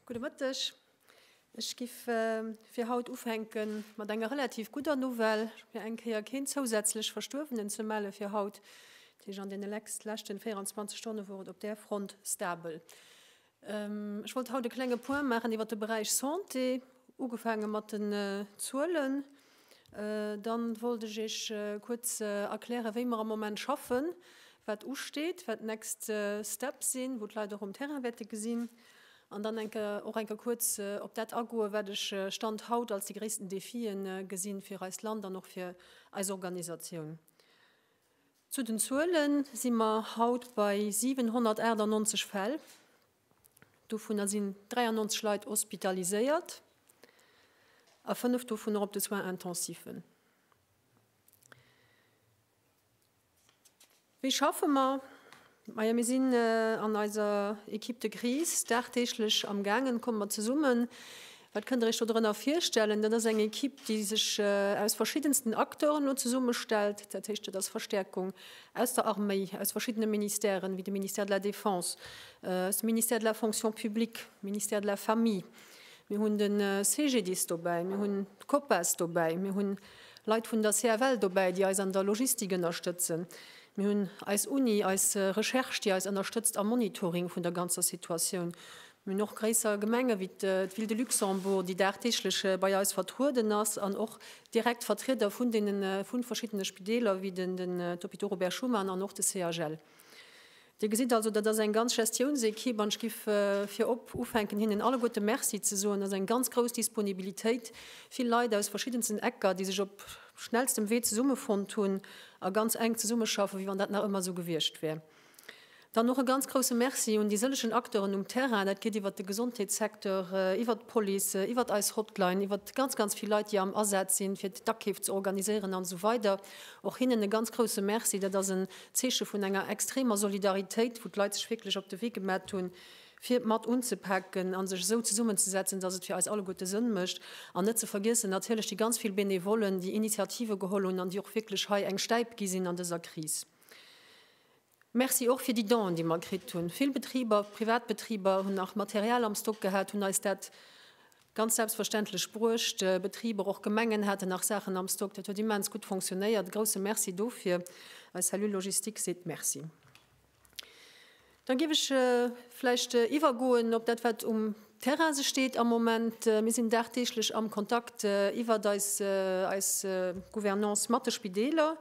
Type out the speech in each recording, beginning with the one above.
Gudde Mëtteg. Ech giff fir haut ufänke mat enger relativ gudder Nouvelle, fir eng Kéier keen zousätzlech Verstuerwenen ze melle fir haut. An deene leschten 24 Stonne wor et op där Front stabel. Ech wollt haut e klenge Point maachen iwwert de Beräich Santé, ugefaange mat den Zuelen. Dann wollt ech Iech kuerz erklären, wéi mer am Moment schaffen, wat usteet, wat d'next Step sinn, wou d'Leit och um Terrain wäerte gesinn. An dann eng Kéier och eng Kéier kuerz op dat agoen, wat ech Stand haut als déi gréissten Defien gesinn fir eist Land an och fir eis Organisatioun. Zu den Zuele si mer haut bei 798 Fäll, dovunner sinn 93 Leit hospitaliséiert a fënnef dovunner op de Soins intensiven. Wéi schaffe mer? Maja mir sinn an eiser Equipe de crise dagdeeglech am gaangen, kommt mat zesummen. Wat kënnt der iech do drënner virstellen? Dat ass eng Equipe déi sech aus verschiddensten Acteuren elo zesummestellt, dat heescht dat ass Verstäerkung aus der Arméi, aus verschiddene Ministèren, wéi de Ministère de la Défense, aus dem Ministère de la Fonction publique, Ministère de la Famille. Mir hunn de CGDIS dobäi, mir hunn d'Copas dobäi, mir hunn Leit vun der CFL dobäi, déi eis an der Logistik ënnerstëtzen. Mir hunn eis Uni, eis Recherche, déi eis ënnerstëtzt am Monitoring vun der ganzer Situatioun. Mir hunn och gréisser Gemenge wéi d'Ville de Luxembourg, déi dagdeeglech bei eis vertrueden ass an och direkt Vertrieder vun deene vu verschiddene Spideeler wéi den Hôpital Robert Schuman an och de CHL. Dir gesitt also, dat ass eng ganz Gestiounsequipe, an ech giff virop ufänken, hinnen alleguerte Merci ze soen. Et ass eng ganz grouss Disponibilitéit, vill Leit aus verschiddensten Ecker, déi sech op schnellstem Wee zesummefonnt hunn a ganz enk zesummeschaffen, wéi wann dat nach ëmmer esou gewiescht wär. Dann och e ganz grousse Merci un déi sëllegen Acteuren um Terrain, dat geet iwwert de Gesondheetssecteur, iwwert d'Police, iwwert eis Hotline, iwwert ganz, ganz vill Leit, déi am Asaz sinn, fir d'Akeef ze organiséieren an esou weider. Och hinnen e ganz grousse Merci. Dat ass en Zeeche vun enger extremer Solidaritéit, wou d'Leit sech wierklech op de Wee gemat hunn, fir mat unzepaken a sech esou zesummenzesetzen, dass et fir eis alleguerte Sënn mécht. An net ze vergiessen natierlech déi ganz vill Benevollen, déi Initiative geholl hunn an déi och wierklech hei eng Stäip gi sinn an dëser Kris. Merci och fir déi Donen, déi mer kritt hunn. Vill Betriber, Privatbetriber hunn nach Material am Stock gehat, hunn eis dat Ganz selbstverständlech bruecht. Betriber, och Gemengen haten nach Saachen am Stock. Dat huet immens gutt fonctionnéiert. Grousse Merci dofir. Eis Cellule Logistique seet Merci. Dann géif ech vläicht iwwergoen op dat, wat um Terrain sech deet am Moment. Mir sinn dagdeeglech am Kontakt iwwert eis eis Gouvernance mat de Spideeler.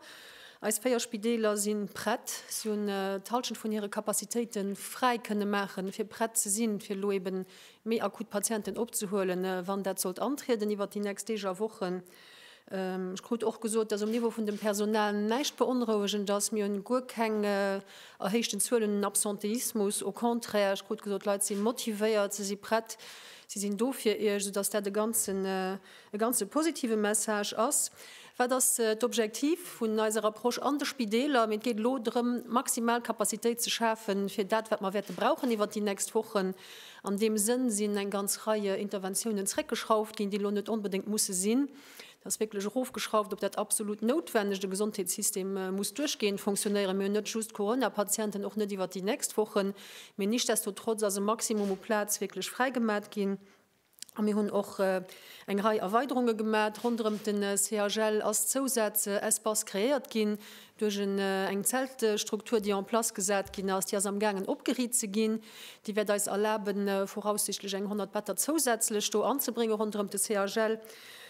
Eis véier Spideeler si prett. Si hunn d'Hallschent vun hire Capacitéite fräi kënne maachen, fir prett ze sinn, fir elo eeben méi akut Patienten opzehuelen, wann dat sollt antrieden iwwert déi nächst Deeg a Wochen. Ech krut och gesot, dass um Niveau vun dem Personal näischt beonrouegend ass. Mir hunn guer keng erhéichten Zuelen un Absentéismus, au contraire. Ech krut gesot, d'Leit si motivéiert, se si prett, si sinn do fir Iech, soudass dat e ganzen E ganze positive Message ass, wat ass d'Objektiv vun eiser Approche an de Spideeler? Mee et geet elo drëm, maximal Capacitéit ze schafen, fir dat, wat mer wäerte brauchen iwwert déi nächst Wochen. An deem Sënn sinn eng ganz Reie Interventiounen zréckgeschrauft ginn, déi elo net onbedéngt musse sinn. Dat ass wierklech erofgeschrauft op dat absolut Noutwennegt. De Gesondheetssystem muss duerchgehend fonctionnéieren. Mir hunn net just Corona-Patienten, och net iwwert déi nächst Wochen. Mee nichtsdestotrotz ass e Maximum u Plaz wierklech fräigemat ginn. A mir hunn och eng Rei Erweiderunge gemat. Ronderëm den CHL ass Zousaz Espace kreéiert ginn duerch en eng Zeltstruktur, déi en place gesat ginn ass. Déi ass am gaangen opgeriit ze ginn. Déi wäert eis erlaben voraussichtlech eng 100 Better zousätzlech do anzebrénge ronderëm de CHL,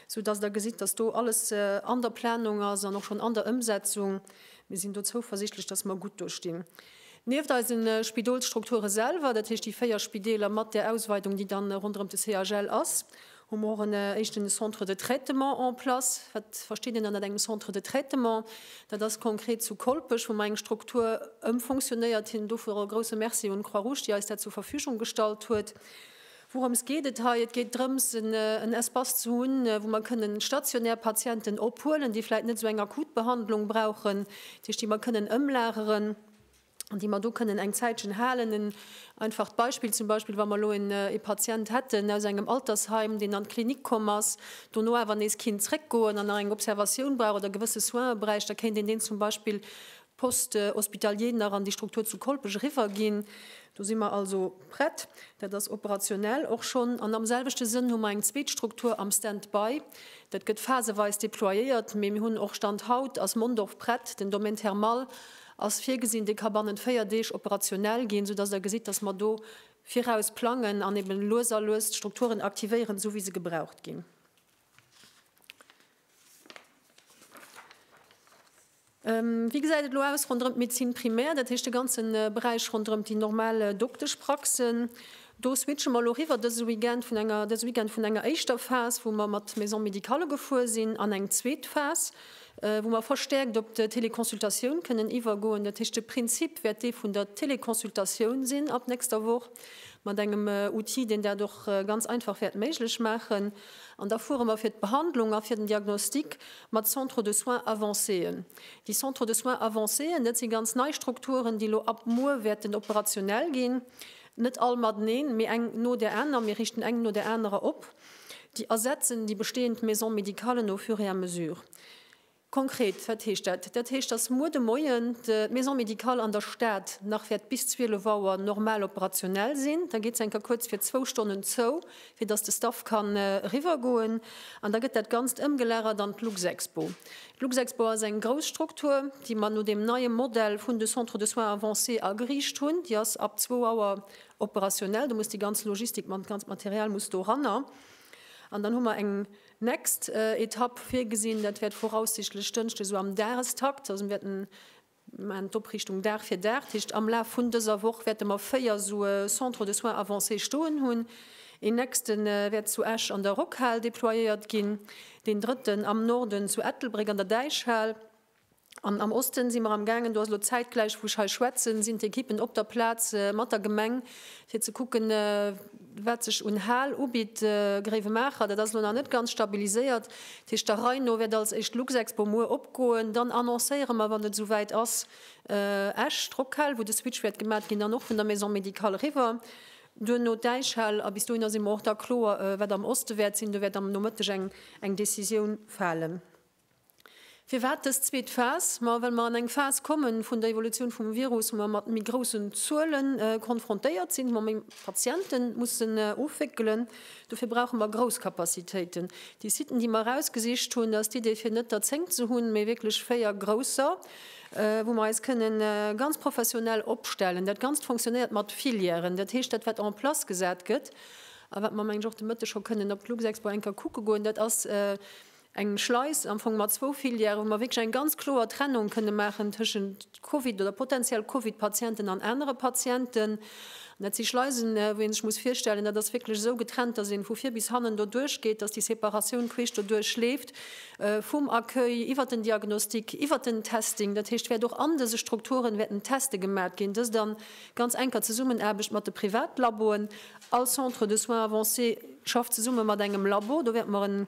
sou dass Der gesitt, dass do alles an der Planung ass an och schonn an der Ëmsetzung. Mir sinn do zouversichtlech, dass mer gutt do stinn. Nieft eise Spidolsstrukture selwer, dat heescht déi véier Spideeler mat där Ausweidung, déi da ronderëm de CHL ass, hu mer och en éischten Centre de traitement en place. Wat versteet een dann ënnert engem Centre de traitement? Dat ass konkret zu Kolpech, wou mer eng Struktur ëmfonctionnéiert hin. Dofir och e grouse Merci un d'Croix-Rouge, déi eis dat zur Verfügung gestallt huet. Wourëms geet et hei? Et geet drëms, en Espace ze hunn, wou mer kënnen stationär Patienten ophuelen, déi vläit net esou eng akut Behandlung brauchen, dat heescht, déi mer kënnen ëmlageren an déi mer do kënnen eng Zäitchen halen. En einfacht Beispill, zum Beispill wa mer elo en ee Patient hätten aus engem Altersheim, deen an d'Klinik komm ass, dono awer nees kinnt zréckgoen an nach eng Observatioun brauch oder gewësse Soine bräicht, da kéint een deen zum Beispill Poste hospitalier nach an déi Struktur zu Kolpech eriwwerginn. Do si mer also prett, dat ass operationell och schonn. An am selwechte Sënn hu mer eng zweet Struktur am Stand-by. Dat gëtt phaseweis deployéiert, mee mir hunn och, Stand haut ass Mondorf prett, den Domaine thermal ass virgesinn, dee ka bannent véier Deeg operationell ginn, soudass Der gesitt, dass mer do viraus plangen an eeben lues a lues d'Strukturen aktivéieren, esou wéi se gebraucht ginn. Wéi gesäit et elo aus ronderëm d'Médecine primaire, dat heescht de ganze Beräich ronderëm déi normal Dokteschpraxen? Do switche mer elo eriwwer dëse Weekend vun enger dëse Weekend vun enger éischter Phas, wou mer mat Maison médicale gefuer sinn, an eng zweet Phas, wou mer verstäerkt op d'Teleconsultatioun kënnen iwwergoen. Dat heescht de Prinzip wäert dee vun der Teleconsultatioun sinn ab nächster Woch mat engem Outil, deen dat och ganz einfach wäert méiglech maachen. An da fuere mer fir d'Behandlung a fir den Diagnostic mat Centres de soins avancéen. Déi Centres de soins avancéen, dat si ganz nei Strukturen, déi elo ab muer wäerten operationell ginn. Net all mateneen, mee eng no där aner. Mir richten eng no där anerer op, déi ersetzen déi bestehend Maison-médicalen au fur et à mesure. Konkret, wat heescht dat? Dat heescht, dass muer de Moien d'Maison médicale an der Stad nach wäert bis 12 Auer normal operationell sinn. Da geet se enker kuerz fir zwou Stonnen zou, fir dass de Staff kann eriwwergoen. An da gëtt dat Ganzt ëmgelagert an d'Luxexpo. D'Luxexpo ass eng grouss Struktur, déi mer no deem neie Modell vun de Centres de soins avancés ageriicht hunn. Déi ass ab zwou Auer operationell. Do muss déi ganz Logistik, d'ganzt Material muss doranner. An dann hu mer eng. Nächst Etapp virgesinn, dat wäert voraussichtlech Dënschde sou am Dagestakt, also mir wäerten maachen d'Opriichtung Dag fir Dag, dat heescht am Laf vun dëser Woch wäerte mer véier sou e Centre de soins avancés stoen hunn. Een nächste wäert zu Esch an der Rockhal deployéiert ginn, deen drëtten am Norden zu Ettelbréck an der Däichhal. An am Osten si mer am gaangen, do ass elo zäitgläich wou ech hei schwätzen, sinn d'Ekippen op der Plaz mat der Gemeng fir ze kucken wat sech un Hal ubitt. Gréiwemaacher, dat ass elo nach net ganz stabiliséiert, dat heescht der Rei no wäert als éischt d'Luxexpo muer opgoen, dann annoncéiere mer wann et esou wäit ass Esch, d'Rockhal wou de Switch wäert gemat ginn, dann och vun der Maison Médicale eriwwer, duerno d'Äischhal a bis dohinner si mer och da kloer wat am Oste wäert sinn, do wäert am Nomëtteg eng Decisioun falen. Firwat dës zweet Phas? Ma well mer an eng Phas kommen vun der Evolutioun vum Virus, wou mer mat méi groussen Zuele konfrontéiert sinn, wou mer méi Patiente mussen ofwéckelen. Dofir brauche mer grouss Capacitéiten. Déi Siten, déi mer erausgesicht hunn, ass d'Idee fir net der zéng ze hunn, mee wierklech véier grousser, wou mer eis kënne ganz professionell opstellen. Dat Ganzt funktionéiert mat Filièren. Dat heescht, dat wat en place gesat gëtt a wat mer, meng ech, och de Mëtteg scho kënnen op d'Luxexpo eng Kéier kucke goen, dat ass, eng Schleis am Fong mat zwou Filières, wou mer wierklech eng ganz kloer Trennung kënne maachen tëschent Covid oder potenziell Covid-Patienten an anere Patienten. An dat si Schleisen, wou ee sech muss virstellen, dat ass wierklech esou getrennt, dass ee vu vir bis hannen doduerch geet, dass déi Separatioun queesch doduerch leeft, vum Accueil iwwert den Diagnostic, iwwert den Testing. Dat heescht, wäert och an dëse Strukturen wäerten d'Teste gemat ginn, dëst a ganz enker Zesummenaarbecht mat de Privatlaboen. All Centre de soins avancés schafft zesumme mat engem Labo. Do wäerte mer en.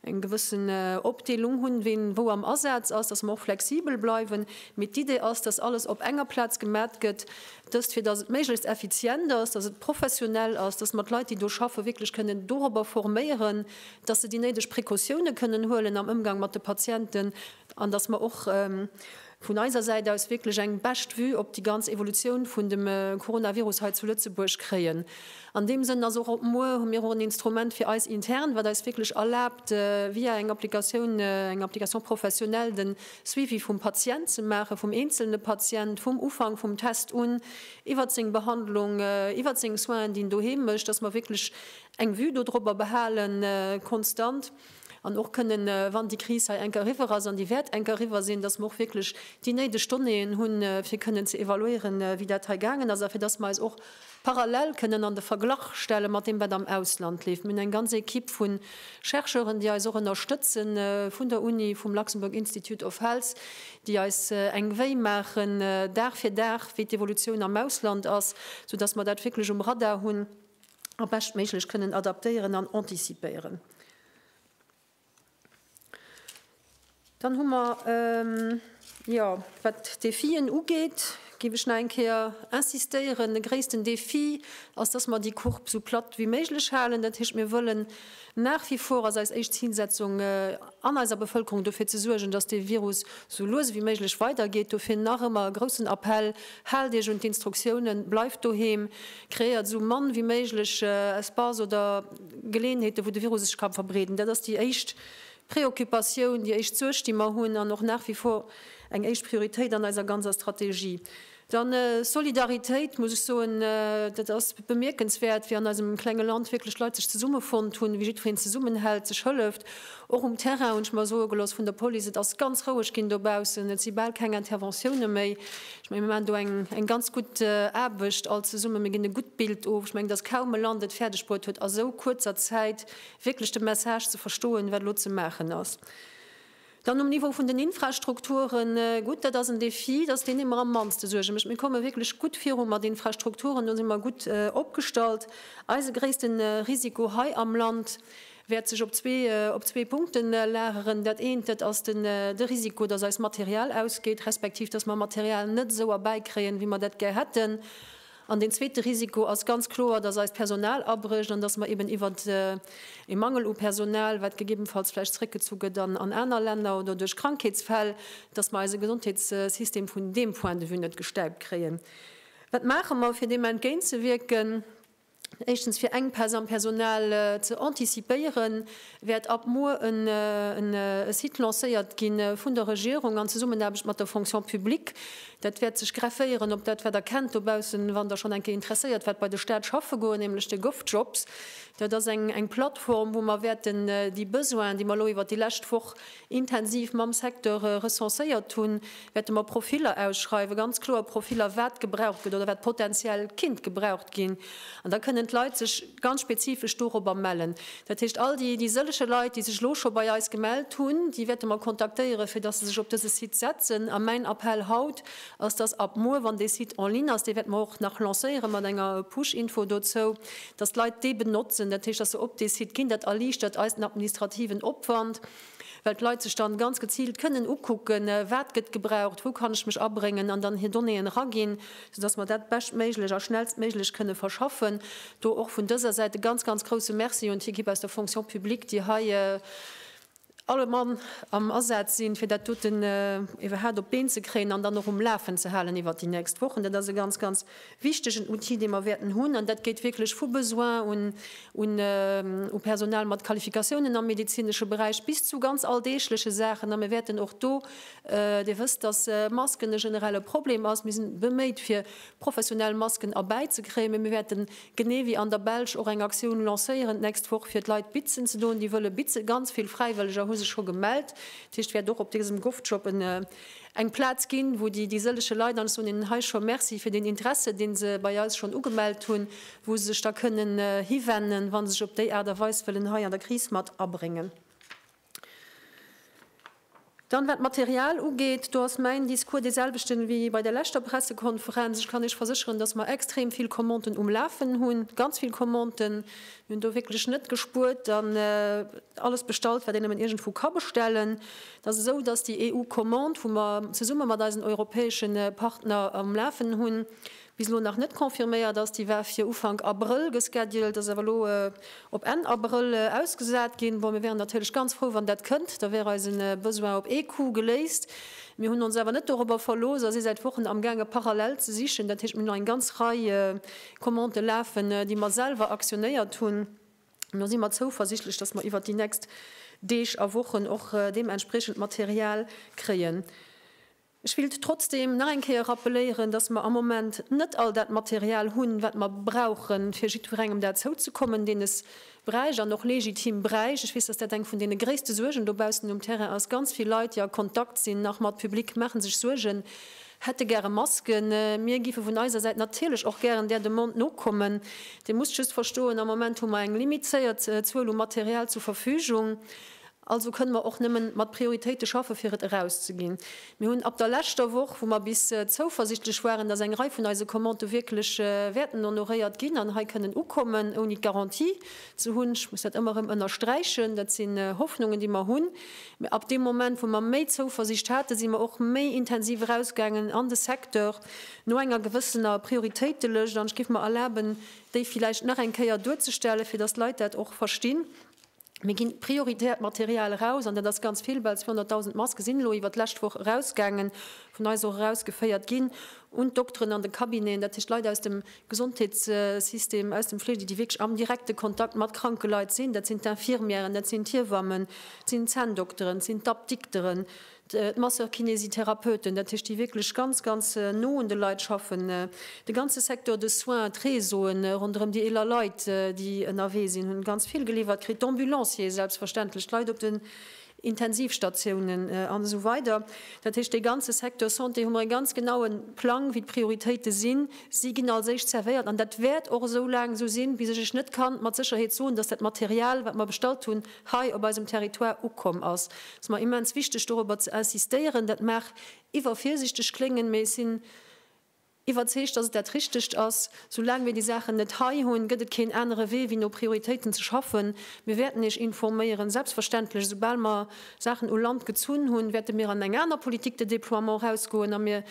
eng gewëssen Opdeelung hunn, ween wou am Asaz ass, dass mer och flexibel bleiwen, mee d'Idee ass, dass alles op enger Plaz gemat gëtt, dëst fir dass et méiglechst effizient ass, dass et professionell ass, dass mer d'Leit, déi do schaffen, wierklech kënnen dorobber forméieren, dass se déi néideg Precautiounen kënnen huelen am Ëmgang mat de Patienten an dass mer och, Vun eiser Säit aus wierklech eng bescht Vue op déi ganz Evolutioun vun dem Coronavirus hei zu Lëtzebuerg kréien. An deem Sënn ass och op muer hu mir och en Instrument fir eis intern, wat eis wierklech erlaabt via eng Applikatioun, eng Application professionnelle, den Suivi vum Patient ze maachen, vum eenzelne Patient, vum Ufank vum Test un, iwwert seng Behandlung, iwwert seng Soinen, déi en doheem mécht, dass mer wierklech eng Vue do drobber behalen konstant. An och kënnen, wann déi Kris hei eng Kéier eriwwer ass, an déi wäert eng Kéier eriwwer sinn, dass mer och wierklech déi néideg Donnéeën hunn, fir kënnen ze evaluéieren, wéi dat hei gaangen ass a fir dass mer eis och parallel kënnen an de Verglach stelle mat deem, wat am Ausland leeft. Mir hunn eng ganz Equipe vu Chercheuren, déi eis och ënnerstëtzen, vun der Uni, vum Luxembourg Institute of Health, déi eis eng Vue maachen, Dag fir Dag, wéi d'Evolutioun am Ausland ass, soudass mer dat wierklech um Radar hunn. a beschtméiglech kënnen adaptéieren an anticipéieren. Dann hu mer, jo, wat d'Defien ugeet, géif ech nach eng Kéier insistéieren, de gréissten Defi ass, dass mer déi Courbe esou platt wéi méiglech halen. Dat heescht, mir wëllen Nach wie vor ass eis éischt Zilsetzung an eiser Bevëlkerung dofir ze suergen, dass dee Virus sou lues ewéi méiglech weidergeet. Dofir nach ëmmer e groussen Appell, Haalt Iech un d'Instruktiounen, bleift doheem, kreéiert sou mann ewéi méiglech Espace oder Geleeënheeten, wou de Virus sech ka verbreeden. Dat ass déi éischt Preoccupatioun, déi éischt Suerg, déi mer hunn an och nach wie vor eng éischt Prioritéit an eiser ganzer Strategie. Dann Solidaritéit, muss ech soen, dat ass bemierkenswäert, wéi an eisem klenge Land wierklech Leit sech zesummefonnt hunn, wéi jiddwereen zesummenhält, sech hëlleft, och um Terrain, hunn ech mer soe gelooss vun der Police. Et ass ganz roueg ginn dobaussen, et si bal keng Interventioune méi. Ech menge mir maachen do eng ganz gutt Aarbecht all zesummen, mir ginn e gutt Bild of. Ech menge, datt kaum e Land et fäerdeg bruet huet a sou kuerzer Zäit wierklech de Message ze verstoen, wat elo ze maachen ass. Dann um Niveau vun den Infrastrukturen, gutt, dat ass en Defi, dat ass deen, dee mer am mannste Suerge mécht. Mir komme wierklech gutt viru mat Infrastrukturen, do si mer gutt opgestallt. Eise gréisste Risiko hei am Land wäert sech op zwee Punkte lageren. Dat eent, dat ass de Risiko, dass eist Material ausgeet, respektiv dass mer Material net esou erbäikréien, wéi mer dat gär hätten. An deen zweete Risiko ass ganz kloer, dass eist Personal abrécht an dass mer eben iwwert e Mangel u Personal, wat gegebenfalls vläicht zréckgezu gëtt an aner Länner oder duerch Krankheetsfäll, dass mer eise Gesondheetssystem vun deem Point de vue net gestäipt kréien. Wat maache mer, fir deem entgéintzewierken? Éischtens, fir Enkpäss am Personal ze anticipéieren, wäert ab muer e Site lancéiert gi vun der Regierung an Zesummenaarbecht mat der Fonction publique. Dat wäert sech grefféieren op dat, wat Der kennt dobaussen, wann Der schonn eng Kéier interesséiert waart, bei de Stat schaffe goen, nämlech de Govjobs. Dat ass eng Plattform, wou mer wäerten déi Besoinen, déi mer elo iwwert déi lescht Woch intensiv mam Secteur recenséiert hunn, wäerte mer Profiller ausschreiwen, ganz kloer Profiller, wat gebraucht gëtt oder wat potenziell kinnt gebraucht ginn. An da kënnen d'Leit sech ganz spezifesch dorobber mellen. Dat heescht, all déi déi sëllege Leit, déi sech elo scho bei eis gemellt hunn, déi wäerte mer kontaktéieren, fir dass se sech op dëse Site setzen. A mäin Appell haut ass, dass ab muer, wann dee Site en ligne ass, dee wäerte mer och nach lancéiere mat enger Push-Info dozou, dass d'Leit dee benotzen, dat heescht, dass se op dee Site ginn. Dat erliichtert eis den administrativen Opwand, well d'Leit sech dann ganz geziilt kënnen ukucken, wat gëtt gebraucht, wou kann ech mech abréngen an dann hir Donnéeën eraginn, soudass mer dat beschtméiglech a schnellstméiglech kënne verschaffen. Do och vun dëser Säit e ganz, ganz grouse Merci un d'Ekipp aus der Fonction publique, déi hei alle Mann am Asaz sinn, fir dat dote iwwerhaapt op d'Been ze kréien an dann och um Lafen ze halen iwwert déi nächst Wochen. Dat ass e ganz, ganz wichtegen Outil, dee mer wäerten hunn. An dat geet wierklech vu Besoin u Personal mat Qualifikatiounen am medezinesche Beräich bis zu ganz alldeegleche Saachen. A mir wäerten och do, Dir wësst, dass Masken e generelle Problem ass, mir si beméit, fir professionell Masken erbäizekréien, mä mir wäerten Genee wéi an der Belsch och eng Aktioun lancéieren d'nächst Woch fir d'Leit Bitzen ze doen, déi wëlle Bitze. Ganz vill Fräiwëlleger hu sech scho gemellt. Dat heescht, et wäert och op dësem Govjob eng Plaz ginn, wou déi sëllege Leit, an ech soen hinnen hei scho Merci fir den Interesse, dee se bei eis schonn ugemellt hunn, wou se sech da kënnen hiwennen, wa se sech op déi Aart a Weis wëllen hei an der Kris mat abréngen. Dann, wat d'Material ugeet, do ass mäin Discours dee selwechten wéi bei der leschter Pressekonferenz. Ech kann Iech versécheren, dass mer extrem vill Commanten um Lafen hunn, ganz vill Commanten. Mir hunn do wierklech net gespuert an alles bestallt, wat een nëmmen iergendwou ka bestellen. Et ass esou, dass déi EU-Commande, wou mer zesumme mat eisen europäesche Partner am Lafen hunn, bis elo nach net confirméiert ass. Déi war fir Ufank Abrëll gesceduled, ass awer elo op Enn Abrëll ausgesat ginn. Bon, mir wäeren natierlech ganz frou, wann dat kënnt, da wär eise Besoin op ee Coup geléist. Mir hunn ons awer net dorobber verlooss a si säit Wochen amgaange parallel ze sichen. Dat heescht, mir hunn nach eng ganz Rei Commandë lafen, déi mer selwer aktionéiert hunn. An da si mer zouversiichtlech, dass mer iwwert déi nächst Deeg a Wochen och deementspriechend Material kréien. Ech willt trotzdem nach eng Kéier rappeléieren, dass mer am Moment net all dat Material hunn, wat mer brauchen, fir jiddwerengem dat zouzekommen, deen es bräicht an och legitim bräicht. Ech weess, dass dat eng vun deene gréisste Suergen dobaussen um Terrain ass. Ganz vill Leit, déi a Kontakt sinn nach mat Public, maache sech Suergen, hätte gäre Masken. Mir géife vun eiser Säit natierlech och gären där Demande nokommen. Dir musst just verstoen, am Moment hu mer eng limizéiert Zuel u Material zur Verfügung. Also kënne mer och nëmme mat Prioritéite schaffe fir et erauszeginn. Mir hunn ab der leschter Woch, wou mer bis zouversichtlech waren, datt eng Rei vun eise Commandë wierklech wäerten honoréiert ginn an hei kënnen ukommen, ouni d'Garantie ze hunn, ech muss dat ëmmer erëm ënnersträichen, dat si Hoffnungen déi mer hunn, mä ab deem Moment wou mer méi Zouversicht haten, si mer och méi intensiv erausgaangen an de Secteur no enger gewëssener Prioritéitelëscht an ech géif mer erlaben déi villäicht nach eng Kéier duerzestellen, fir datt d'Leit dat och verstinn. Mir ginn prioritäert Material eraus, an dat ass ganz vill, well 200.000 Maske sinn elo iwwert d'lescht Woch erausgaangen, vun eis och erausgeféiert ginn un d'Dokteren an de Cabineten, dat heescht Leit aus dem Gesondheetssystem, aus dem Fleege, déi wierklech am direkte Kontakt mat kranke Leit sinn. Dat sinn d'Infirmièren, dat sinn d'Hiewammen, et sinn d'Zänndokteren, et sinn d'Apdikteren, d'Masseur-Kinésithérapeuten, dat heescht déi wierklech ganz, ganz no un de Leit schaffen, de ganze Secteur de soins, d'Réseaue ronderëm déi eeler Leit, déi ënnerwee sinn, hu ganz vill geliwwert kritt, d'Ambulanciere selbstverständlech, d'Leit op den Intensivstatiounen an esou weider. Dat heescht dee ganze Secteur Santé hu mer ee ganz genaue Plang, wéi d'Prioritéite sinn. Si ginn als éischt servéiert an dat wäert och esou laang esou sinn, bis ech Iech net ka mat Sécherheet soen, datt dat Material, wat mer bestallt hunn, hei op eisem Territoire ukomm ass, ass mer immens wichteg dorobber ze insistéieren. Dat mag iwwervirsichteg kléngen, mee ech sinn iwwerzeegt, dass et dat Richtegt ass. Soulaang mir déi Saachen net hei hunn, gëtt et keen anere Wee wéi no Prioritéiten ze schaffen. Mir wäerten Iech informéieren, selbstverständlech, esoubal mer Saachen u Land gezunn hunn, wäerte mir an eng aner Politique de déploiement erausgoen a mir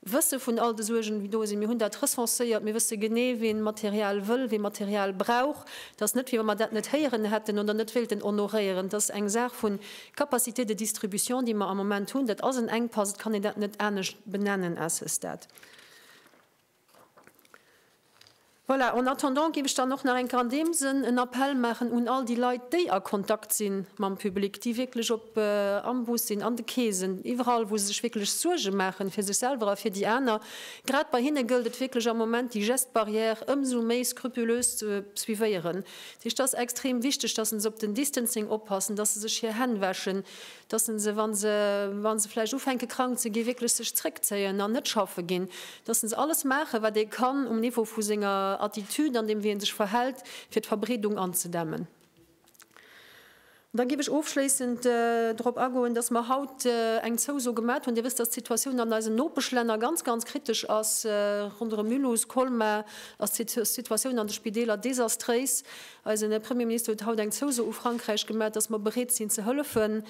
Wësse vun all de Suergen, déi do sinn. Mir hunn dat recenséiert. Mir wësse genee, wien Material wëll, wien Material brauch. Et ass net, wéi wa mer dat net héieren hätten oder net wéilten honoréieren. Et ass eng Saach vu Capacité de distribution, déi mer am Moment hunn. Dat ass en Enkpass. Et kann een dat net anescht benennen à ce stade. Voilà, en attendant géif ech dann och nach eng Kéier an deem Sënn en Appell maachen un all déi Leit, déi a Kontakt si mam Public, déi wierklech op, am Bus sinn, an de Keesen, iwwerall, wou se sech wierklech Suerge maachen fir sech selwer a fir déi aner, grad bei hinne gëllt et wierklech am Moment, déi Gestes barrières ëmsou méi scrupulös ze suivéieren. Dat heescht, et ass extrem wichteg, dass se op den Distancing oppassen, dass se sech hir Hänn wäschen, dass se se, wa se wa se vläicht ufänke krank ze gi wierklech sech zréckzéien an net schaffe ginn, dass se alles maachen, wat ee kann um Niveau vu senger Attitude an deem wéi ee sech verhält, fir d'Verbreedung anzedämmen. An da géif ech ofschléissend drop agoen, dass mer haut eng Zouso gemaat hunn. Dir wësst, dass d'Situatioun an eisen Nopeschlänner ganz, ganz kritesch ass. Ronderëm Mulhouse, Colmar ass d'Situatioun an de Spideeler desastréis. Eisen Premierminister huet haut eng Zouso u Frankräich gemat, dass mer bereet sinn ze hëllefen,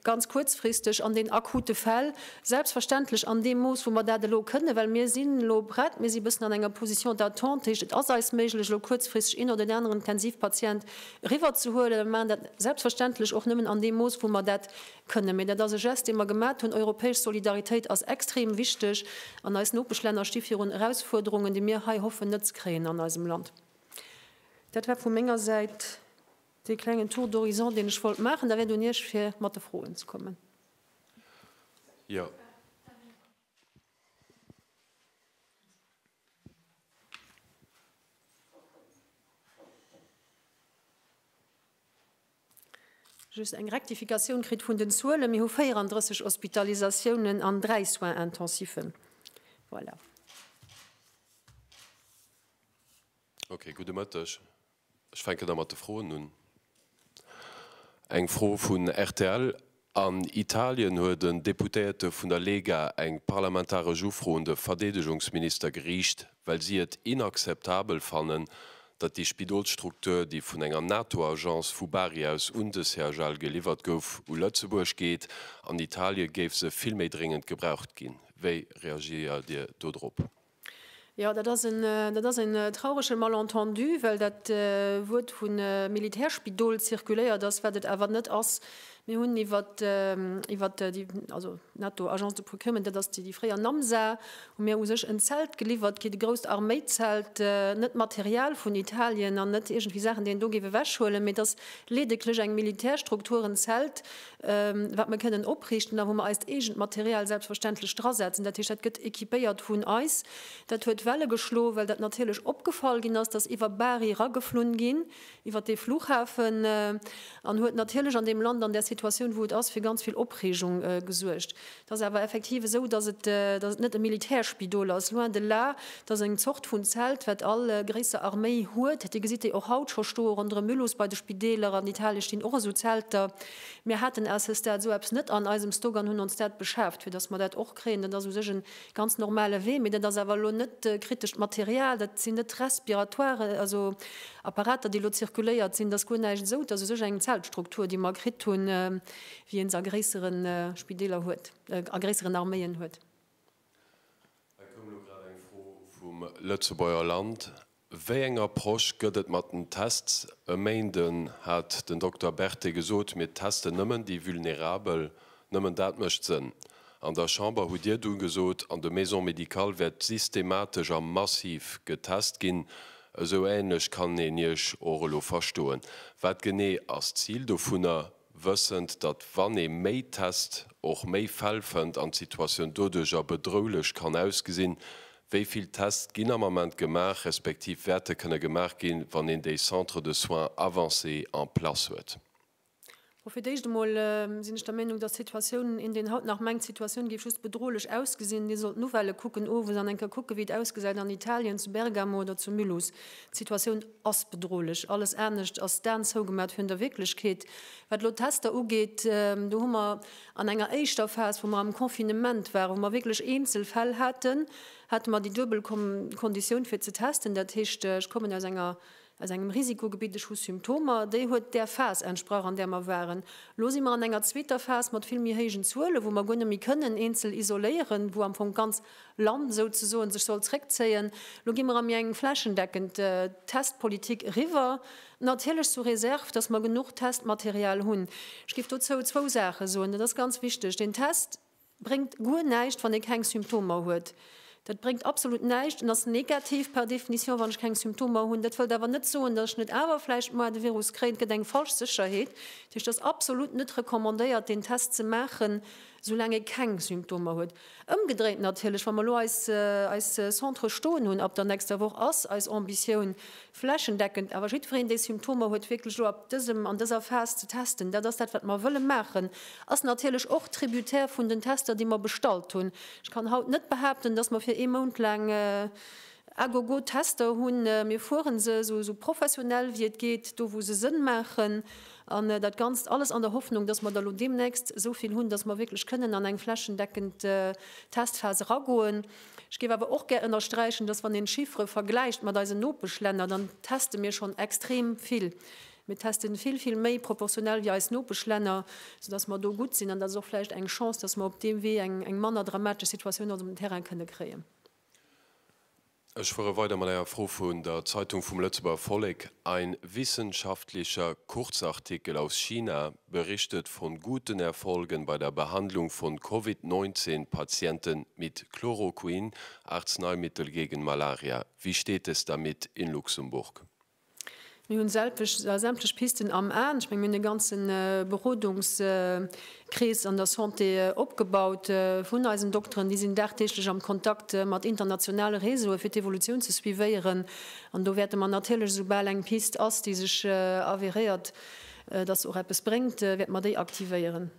ganz kuerzfristeg an den akute Fäll, selbstverständlech an deem Mooss wou mer dat elo kënnen, well mir sinn elo prett, mir si bëssen an enger Position d'attente, dat heescht et ass eis méiglech elo kuerzfristeg een oder deen aneren Intensivpatient eriwwer ze huelen. Mir maachen dat selbstverständlech och nëmmen an deem Mooss wou mer dat kënnen, mee dat ass e Gest dee mer gemat hunn. Europäesch Solidaritéit ass extrem wichteg an eis Nopeschlänner sti virun Erausfuerderungen déi mir hei hoffen net ze kréien an eisem Land. Dat war vu menger Säit dee klengen Tour d'horizon, deen ech wollt maachen. Da wäert un Iech, fir mat de Froen ze kommen. Jo. Just eng Rektifikatioun kritt vun den Zuelen. Mir hu 34 Hospitalisatiounen an dräi Soins intensiven. Voilà. Ok, gudde Mëtteg. Ech fänken da mat de Froen un. Eng Fro vun rtl, An Italien huet en Deputéierte vun der Lega eng parlamentaresch Ufro un de Verdeedegungsminister geriicht, well si et inakzeptabel fannen, datt déi Spidolsstruktur, déi vun enger NATO-Agence vu Bari aus un de CHL geliwwert gouf, u Lëtzebuerg geet. An Italie géif se vill méi dréngend gebraucht ginn. Wéi reagéiert Dir dodrop? Jo, dat ass en, dat ass en traurege Malentendu, well dat Wuert vu Militärspidol zirkuléiert ass, wat et awer net ass. Mir hunn iwwert, iwwert déi, also NATO, Agence de Procurement, dat ass déi fréier Namsa, hu mir u sech en Zelt geliwwert kritt, e grousst Arméizelt, net Material vun Italien an net iergendwéi Saachen, déi een do géif ewechhuelen, mee et ass leedeklech eng Militärstruktur, en Zelt, wat mer kënnen opriichten a wou mer eist eegent Material selbstverständlech drasetzen. Dat heescht, dat gëtt équipéiert vun eis. Dat huet Welle geschloen, well dat natierlech opgefall ginn ass, dass iwwer Bari erageflunn ginn, iwwer dee Flughafen, an huet natierlech an deem Land, an där Situatioun, wou et ass, fir ganz vill Opreegung gesuergt. Et ass awer effektiv esou, dass et net e Militärspidol ass, loin de là. Et ass eng Zort vun Zelt, wat all gréisser Arméi huet. Dir gesitt déi och haut scho stoe ronderëm Mulhouse bei de Spideeler. An Italien stinn och esou Zelter. Mir haten à ce stade esou eppes net an eisem Stock an hunn ons dat beschaaft, fir dass mer dat och kréien. Dat ass u sech e ganz normale Wee. Mee dat ass awer elo net kritescht Material. Dat sinn net Respiratoiren, also Apparater, déi elo zirkuléiert sinn. Et ass guer näischt esou. Et ass u sech eng Zeltstruktur, déi mer kritt hunn. Wien se a gréissere Spideeler huet, a gréisseren Arméien huet. Et koum elo grad eng Fro vum Lëtzebuerger Land, Wéi eng Approche gëtt et mat den Tests? E Méinden hat den Dokter Berthet gesot, Mir testen nëmmen déi Vulnerabel. Nëmmen dat mécht Sënn. An der Chamber hutt Dir dunn gesot, an de Maisons médicales wäert systematesch a massiv getest ginn. Esou änlech kann een Iech och elo verstoen. Wat genee ass d'Zil dovunner? Wëssend, datt wann ee méi test, och méi Fäll fënnt an d'Situatioun doduercher bedroulech kann ausgesinn, wéi vill Test ginn am Ament gemaach, respektiv wäerte kënne gemaach ginn, wann een déi Centres de soins avancés en place huet? Bon, fir d'éischt emol sinn ech der Meenung, datt d'Situatioun, een deen haut nach mengt, d'Situatioun géif just bedrohlech ausgesinn, dee sollt d'Nouvellë kucken owes an eng Kéier kucken, wéi et ausgesäit an Italien, zu Bergamo oder zu Mulhouse. D'Situatioun ass bedrohlech. Alles anescht ass d'Aen zougemat virun der Wierklechkeet. Wat elo d'Tester ugeet, do hu mer an enger éischter Phas, wou mer am Confinement waren, wou mer wierklech eenzel Fäll haten, hate mer déi duebel Konditioun fir ze testen, dat heescht, ech kommen aus enger, aus engem Risikogebitt, ech hu Symptomer, déi huet där Phas entsprach, an där mer waren. Elo si mer an enger zweeter Phas mat vill méi héijen Zuelen, wou mer guer net méi kënnen eenzel isoléieren, wou am Fong ganz. Land souzesoen sech soll zréckzéien. Lo gi mer a méi eng flächendeckend Testpolitik eriwwer, natierlech sous réserve, dass mer genuch Testmaterial hunn. Ech géif dozou zwou Saache soen, dat ass ganz wichteg. Deen Test bréngt guer näischt, wann ee keng Symptomer huet. Dat bréngt absolut näischt. En ass negativ par définition, wann ech keng Symptomer hunn. Dat wëllt awer net soen, dass ech net awer vläicht mol de Virus kréien. Et gëtt eng falsch Sécherheet. Dat heescht, et ass absolut net recommandéiert, deen Test ze maachen, soulaang ee keng Symptomer huet. Ëmgedréint natierlech, wa mer elo eis Centre stoen hunn ab der nächster Woch, ass eis Ambitioun, flächendeckend awer jiddwereen, dee Symptomer huet, wierklech elo ab dësem, an dëser Phas ze testen. Dat ass dat, wat mer wëlle maachen. Ass natierlech och tributaire vun den Tester, déi mer bestallt hunn. Ech kann haut net behaapten, dass mer fir ee Mount laang à gogo Tester hunn. Mir fuere se esou professionell wéi et geet, do wou se Sënn maachen. An dat Ganzt alles an der Hoffnung, dass mer da lo deemnächst esou vill hunn, dass mer wierklech kënnen an eng flächendeckend Testphas eragoen. Ech géif awer och gär ënnersträichen, dass, wann een d'Chiffere vergläicht mat eisen Nopeschlänner, dann teste mir schonn extrem vill. Mir testen vill, vill méi proportionell wéi eis Nopeschlänner, soudass mer do gutt sinn. An dat ass och vläicht eng Chance, dass mer op deem Wee eng manner dramatesch Situatioun op dem Terrain kënne kréien. Ech fuere weider mat enger Fro vun der Zeitung vum Lëtzebuerger Vollek, Ein wissenschaftlicher Kurzartikel aus China berichtet von guten Erfolgen bei der Behandlung von Covid 19 Patienten mit Chloroquin, Arzneimittel gegen Malaria. Wie steht es damit in Luxemburg? Mir hunn sämtlech Pisten am Aen. Ech menge mir hunn e ganze Berodungskrees an der Santé opgebaut vun eisen Dokteren. Déi sinn dagdeeglech am Kontakt mat internationale Réseaue fir d'Evolutioun ze suivéieren. An do wäerte mer natierlech, esoubal eng Pist ass, déi sech avéréiert, datt se och eppes bréngt, wäerte mer déi aktivéieren.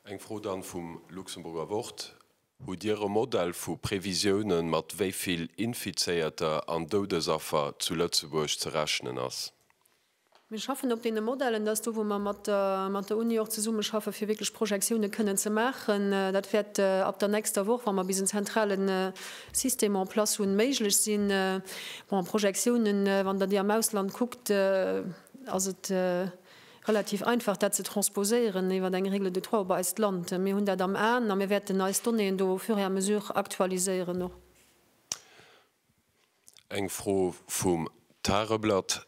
Eng Fro dann vum Luxemburger Wort. Hutt Dir e Modell vu Previsiounen, mat wéi vill Infizéierter an Doudesaffer zu Lëtzebuerg ze rechnen ass? Mir schaffen op deene Modellen. Dat ass do, wou mer mat der Uni och zesummeschaffe fir wierklech Projektioune kënnen ze maachen. Dat wäert ab der nächster Woch, wa mer bis en zentrale System en place hunn, méiglech sinn. Bon, Projektiounen, wann Der déi am Ausland kuckt, ass et, relativ einfach dat ze transposéieren iwwert eng Règle de trois op eist Land. Mir hunn dat am Aen a mir wäerten eis Donnéeën do au fur et à mesure aktualiséieren och. Eng Fro vum Tageblatt,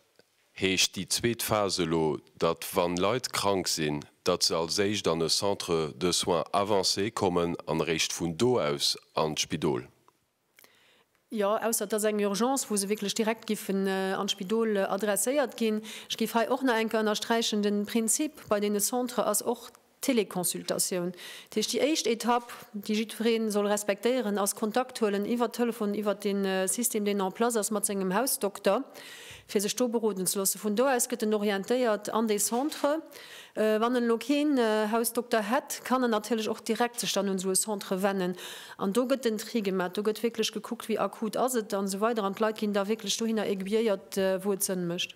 Heescht déi zweet Phas elo, datt wann Leit krank sinn, datt se als éischt an e Centre de soins avancés kommen an eréischt vun do aus an d'Spidol? Jo, ausser et ass eng Urgence, wou se wierklech direkt giffen an d'Spidol adresséiert ginn. Ech géif hei och nach eng Kéier ënnersträichen, de Prinzip bei deene Centre ass och d'Teleconsultatioun. Dat heescht, déi éischt Etapp, déi jiddweree soll respektéieren, ass Kontakt huelen iwwer Telefon, iwwer de System, deen en place ass, mat sengem Hausdokter, fir sech do beroden ze loossen. Vun do aus gëtt en orientéiert an dee Centre. Wann en elo keen Hausdokter hätt, kann en natierlech och direkt sech dann un esou e Centre wennen an do gëtt den Tri gemat. Do gëtt wierklech gekuckt, wéi akut ass et an esou weider an d'Leit ginn da wierklech dohinner aiguilléiert, wou et Sënn mécht.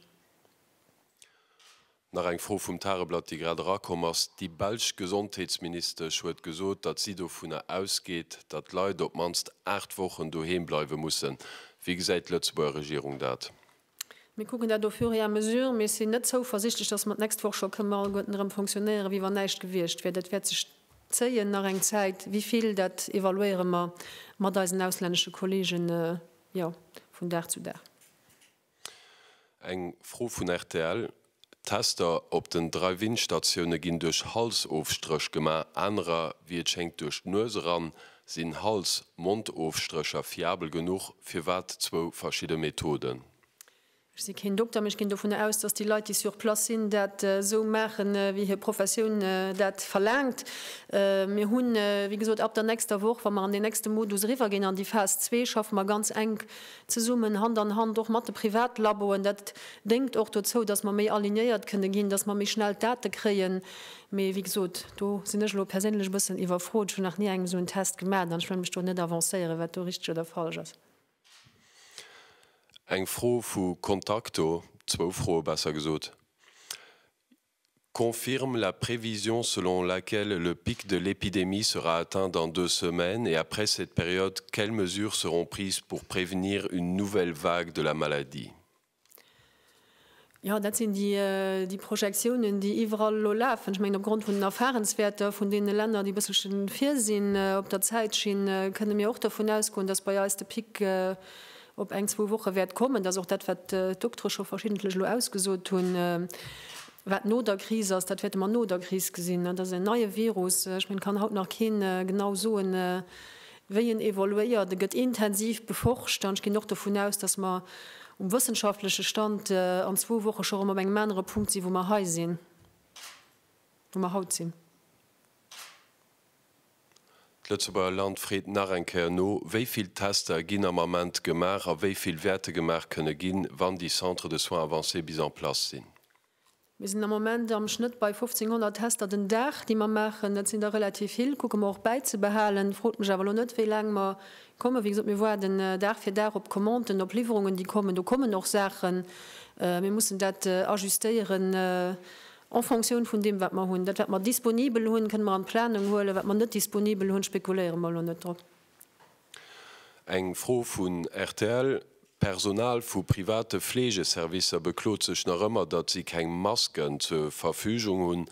Nach eng Fro vum Tageblatt, déi grad erakomm ass, Déi belsch Gesondheetsministesch huet gesot, datt si dovunner ausgeet, datt d'Leit op d'mannst 8 Wochen doheem bleiwe mussen. Wéi gesäit d'Lëtzebuerger Regierung dat? Mir kucken dat au fur et à mesure. Mir sinn net zouversichtlech, dass mer d'nächst Woch scho kënnen alleguerten erëm fonctionnéieren, wéi wann näischt gewiescht wier. Dat wäert sech zéien nach eng Zäit. Wivill, dat evaluéiere mer mat eisen auslännesche Kollegen, jo, vun Dag zu Dag. Eng Fro vun rtl, D'Tester op den Drive-In-Statioune ginn duerch Halsofstréch gemaach, anerer, wéi et schéngt, duerch d'Nues eran. Sinn Hals-Mond-Ofstrécher fiabel genuch? Firwat d'zwou verschidde Methoden? Ech si keen Dokter, mee ech ginn dovun aus, datt déi Leit, déi sur place sinn, dat esou maachen, wéi hir Professioun dat verlaangt. Mir hunn, wéi gesot, ab der nächster Woch, wa mer an deen nächste Modus eriwwer ginn, an déi Phas zwee, schaffe mer ganz enk zesummen, Hand an Hand och mat de Privatlaboen, dat déngt och dozou, datt mer méi alignéiert kënne ginn, datt mer méi schnell d'Date kréien. Mee wéi gesot, do sinn ech elo perséinlech e bëssen iwwerfrot. Ech hunn nach ni eng esou en Test gemat an ech wëll mech do net avancéieren, wat do richteg oder falsch ass. Eng Fro vu Contacto, zwou Froe besser gesot. confirme la prévision selon laquelle le pic de l'épidémie sera atteint dans deux semaines et après cette période quelles mesures seront prises pour prévenir une nouvelle vague de la maladie? Jo, dat sinn déi Projektiounen, déi iwwerall elo lafen. Ech mengen, opgrond vun den Erfahrenswäerter vun deene Länner, déi e bësselche vir sinn op der Zäitschinn, kënne mir och dovun ausgoen, dass bei eis de Pic op eng, zwou Woche wäert kommen, dass och dat, wat d'Doktere scho verschiddentlech elo ausgesot hunn, wat no der Kris ass, dat wäerte mer no der Kris gesinn. Dat ass en neie Virus. Ech mengen, et kann haut nach keen genau soen, wéi en evoluéiert. E gëtt intensiv beforscht an ech ginn och dovun aus, dass mer um wëssenschaftleche Stand an zwou Woche scho erëm op engem anere Punkt sinn, wou mer hei sinn, wou mer haut sinn. D'Lëtzebuerger Land freet nach eng Kéier no, Wéi vill Tester ginn am Ament gemaach a wéi vill wäerte gemaach kënne ginn, wann déi Centres de soins avancés bis en place sinn? Mir sinn am Moment am Schnëtt bei 1.500 Tester den Dag, déi mer maachen. Dat sinn der relativ vill, kucke mer och bäizebehalen. Frot mech awer elo net, wéi laang mer kommen. Wéi gesot, mir waarden Dag fir Dag op Commanden, op Liwwerungen, déi kommen. Do kommen och Saachen. Mir mussen dat ajustéieren. En Fonctioun vun deem, wat mer hunn. Dat, wat mer disponibel hunn, kënne mer an d'Planung huelen. Wat mer net disponibel hunn, spekuléiere mer elo net drop. Eng Fro vun rtl, D'Personal vu private Fleegeservicer beklot sech nach ëmmer, datt si keng Masken zur Verfügung hunn.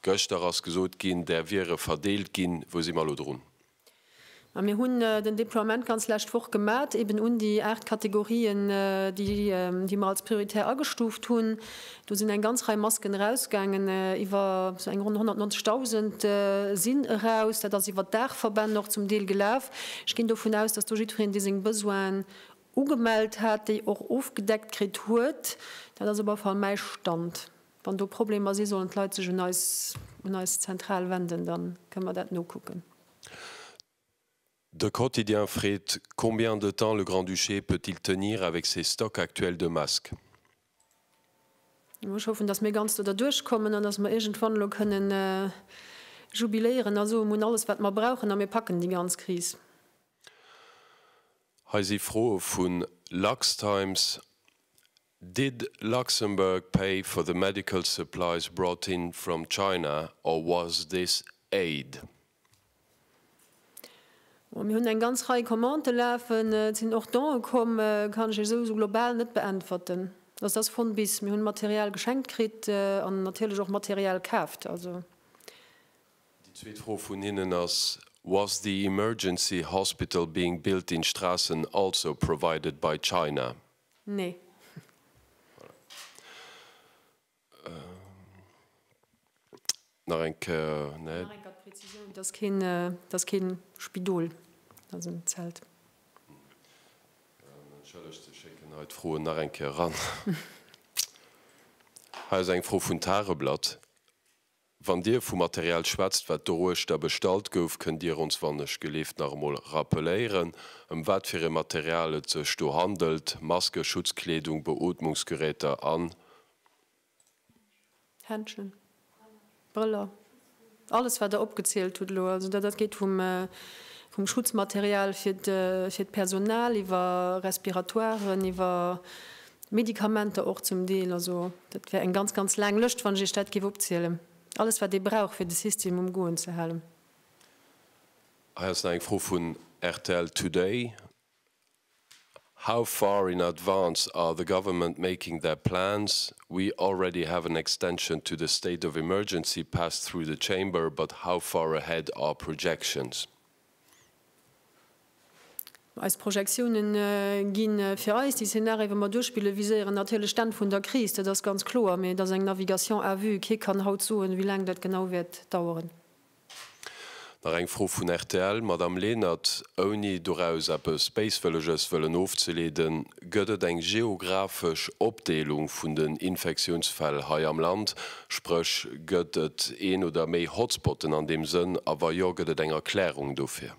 Gëschter ass gesot ginn, där wiere verdeelt ginn. Wou si mer elo drun? A mir hunn den Deploiement ganz lescht Woch gemat, eben un déi aacht Kategorien, déi mer als prioritär agestuuft hunn. Do sinn eng ganz Rei Masken erausgaangen, iwwer sou eng ronn 190.000 sinn eraus. Dat ass iwwer d'Daachverbänn och zum Deel gelaf. Ech ginn dovun aus, dass do jiddwereen, dee seng Besoinen ugemellt hat, déi och ofgedeckt kritt huet. Dat ass op alle Fall mäi Stand. Wann do Problemer si sollen d'Leit sech un eis, un eis Zentral wenden, da kënne mer dat nokucken. De Quotidien freet, Combien de temps le Grand-Duché peut-il tenir avec ses stocks actuels de masques? Ech hoffen, datt mir ganz do derduerch kommen an datt mer iergendwann elo kënne jubiléieren a soen, mir hunn alles wat mer brauchen a mir packen déi ganz Kris. Hei si Froe vu LuxTimes, Did Luxembourg pay for the medical supplies brought in from China or was this aid? Bon, mir hunn eng ganz Rei Commente lafen. Et sinn och Don'e komm. Kann ech esou sou global net beäntwerten. Also, dat ass von bis. Mir hunn Material geschenkt kritt an natierlech och Material kaaft. Also. Déi zweet Fro vun hinnen ass, Was the emergency hospital being built in Strassen also provided by China? Nee. Nach eng Kéier, nee. Nach eng Kéier d'Präzisioun, et ass keen, et ass kee Spidol, et ass en Zelt. Entschëllegt, se schécken hei d'Froen nach eng Kéier eran. Hei ass eng Fro vun Tageblatt. Wann Dir vu Material schwätzt, wat doruechter bestallt gouf, kënnt Dir ons, wann ech geleeft, nach emol rappeléieren, ëm wat fir e Material et sech do handelt, Maske, Schutzkleedung, Beootmungsgeräter an. Händschen, Brëller, alles, wat Der opgezielt hutt elo. Also dat geet vum Schutzmaterial fir d'Personal iwwer Respiratoiren, iwwer Medikamenter och zum Deel. Also dat wär eng ganz, ganz laang Lëscht, wann ech Iech dat géif opzielen. Alles, wat ee brauch, fir de System um Goen ze halen. Hei ass nach eng Fro vun rtl Today, How far in advance are the government making their plans? We already have an extension to the state of emergency passed through the Chamber, but how far ahead are projections? Eis Projektiounen gi fir eis, déi Szenarië wou mer duerchspillen, viséieren natierlech d'Enn vun der Kris, dat ass ganz kloer, mee et ass eng Navigation à vue. Kee kann haut soen, wéi laang dat genau wäert daueren. Nach eng Fro vun rtl, Madamm Lenert, ouni doraus eppes Béiswëlleges wëllen ofzeleeden, Gëtt et eng geographesch Opdeelung vun den Infektiounsfäll hei am Land? Spréch, gëtt et een oder méi Hotspotten an deem Sënn? A wa jo, gëtt et eng Erklärung dofir?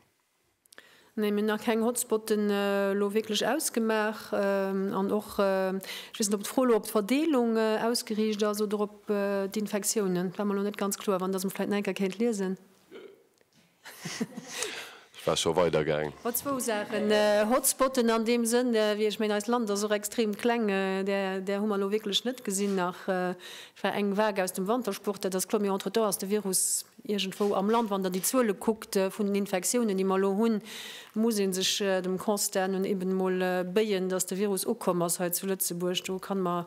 Nee, mir hunn nach keng Hotspotten elo wierklech ausgemaach. An och, ech weess net, ob d'Fro elo op d'Verdeelung ausgeriicht ass oder op d'Infektiounen. Dat war mer elo net ganz kloer. Wann Der se mer vläicht nach eng Kéier kéint liesen. Ech war scho weider gaang. Hot zwou Saachen, Hotspotten an deem Sënn, wéi ech mengen, eist Land ass och extrem kleng, där hu mer elo wierklech net gesinn. Nach war eng Vague aus dem Wantersport, dat ass kloer. Mee entretemps ass de Virus iergendwou am Land. Wann Der déi Zuele kuckt vun den Infektiounen, déi mer elo hunn, muss ee sech dem Constat no eben emol béien, datt de Virus ukomm ass hei zu Lëtzebuerg. Do kann mer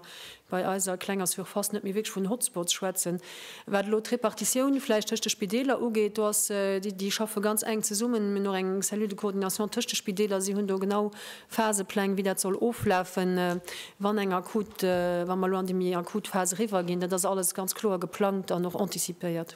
bei eiser klenger Surface net méi wierklech vun Hotspots schwätzen. Wat elo d'Repartitioun vläicht tëscht de Spideeler ugeet, do ass, déi déi schaffe ganz enk zesummen. Mir hunn och eng Cellule de coordination tëscht de Spideeler. Si hunn do genau Phasepläng, wéi dat soll oflafen, wann eng akut, wa mer elo an déi méi akut Phas eriwwerginn. Dat ass alles ganz kloer geplangt an och anticipéiert.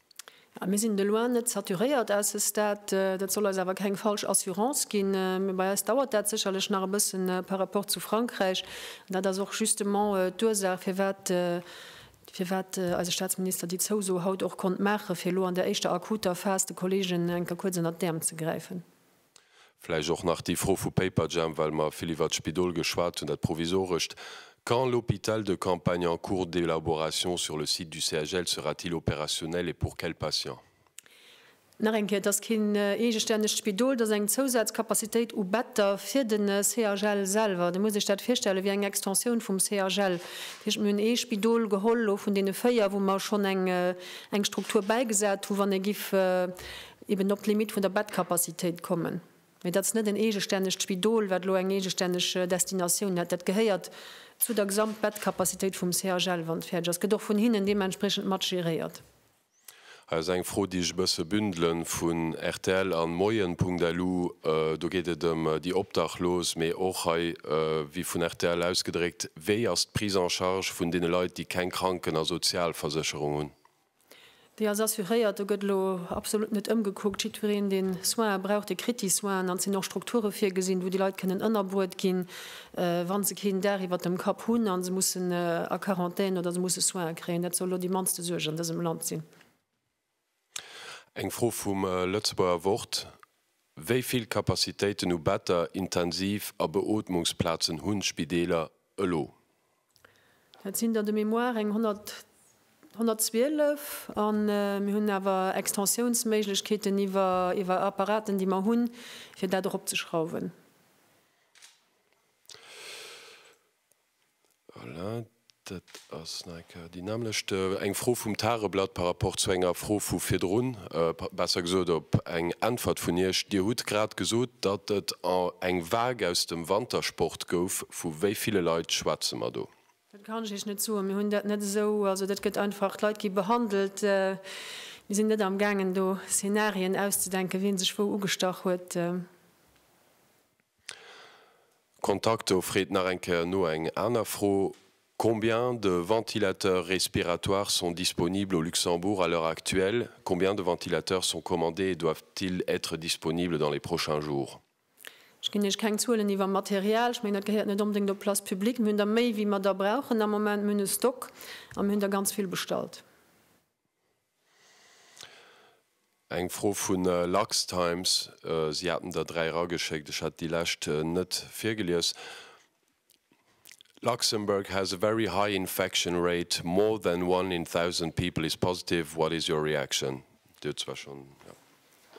Mir sinn de loin net saturéiert à ce stade. Dat soll eis awer keng falsch Assurance ginn. Mee bei eis dauert dat sécherlech nach e bësse par rapport zu Frankräich. An dat ass och justement d'Ursaach, firwat firwat eise Statsminister déi Zouso haut och konnt maachen, fir elo an där éischter akuter Phas de Kolleegen enker kuerz ënnert d'Äerm ze gräifen. Vläicht och nach déi Fro vu Paperjam, well mer vill iwwert d'Spidol geschwat hunn, dat provisorescht, Quand l'hôpital de campagne en cours d'élaboration sur le site du CHL sera-t-il opérationnel et pour quels patients? Nach eng Kéier, Et ass keen eegestännegt Spidol, et ass eng Zousazcapacitéit u Better fir de CHL selwer. Dir musst Iech dat virstellen wéi eng Extensioun vum CHL. Dat heescht, mir hunn ee Spidol geholl elo vun deene véier, wou mer schonn eng Struktur bäigesat hu wann ee giff eben op d'Limite vun der Bettcapacitéit kommen. Mee dat ass net en eegestännegt Spidol, wat elo eng eegestänneg Destinatioun hätt. Dat gehéiert zu der Gesamtbettcapacitéit vum CHL, wann et fäerdeg ass. Gëtt och vun hinnen deementspriechend mat geréiert. Hei ass eng Fro, déi ech e bësse bündelen, vun rtl an moien.lu. Do geet et ëm déi Obdachlos, mee och hei, wéi vun rtl ausgedréckt, Wéi ass d'Prise en charge vun deene Leit, déi keng Kranken a Sozialversécherung hunn? Déi ass assuréiert, do gëtt elo absolut net ëmgekuckt. Jiddwereen, dee Soine brauch, dee kritt déi Soinen. An et sinn och Strukture virgesinn, wou déi Leit kënnen ënnerbruet ginn, wa se keen Dag iwwert dem Kapp hunn a se mussen a Quarantän oder se musse Soine kréien. Dat soll elo déi mannste Suerg an dësem Land sinn. Eng Fro vum Lëtzebuerger Wort, Wéi vill Capacitéiten u Better, Intensiv a Beootmungsplazen hunn d'Spideeler elo. Dat sinn der de mémoire eng 112. A mir hunn awer Extensiounsméiglechkeeten iwwer Apparaten, déi mer hunn, fir dat eropzeschrauwen. Voilà, dat ass nach. Déi nämmlecht, eng Fro vum Tageblatt par rapport zu enger Fro vu virdrun, besser gesot op eng Äntwert vun Iech. Dir hutt grad gesot, datt et eng Vague aus dem Wantersport gouf. Vu wéi ville Leit schwätze mer do? Dat kann ech Iech net soen. Mir hunn dat net esou. Also dat gëtt einfach, d'Leit gi behandelt. Mir sinn net am gaangen do Szenarien auszedenken, wien sech wou ugestach huet. Kontakt, do freet nach eng Kéier no eng aner Fro. Combien de ventilateurs respiratoires sont disponibles au Luxembourg à l'heure actuelle? Combien de ventilateurs sont commandés et doivent-ils être disponibles dans les prochains jours? Ech ginn Iech keng Zuelen iwwer Material. Ech mengen, dat gehéiert net onbedéngt op d'Place publique. Mir hunn der méi, wéi mer der brauchen am Moment. Mir hunn e Stock a mir hunn der ganz vill bestallt. Eng Fro vun Luxtimes, si haten der dräi erageschéckt, ech hat déi lescht net virgelies. Luxembourg has a very high infection rate, more than one in thousand people is positive, what is your reaction? Dir hutt zwar schonn.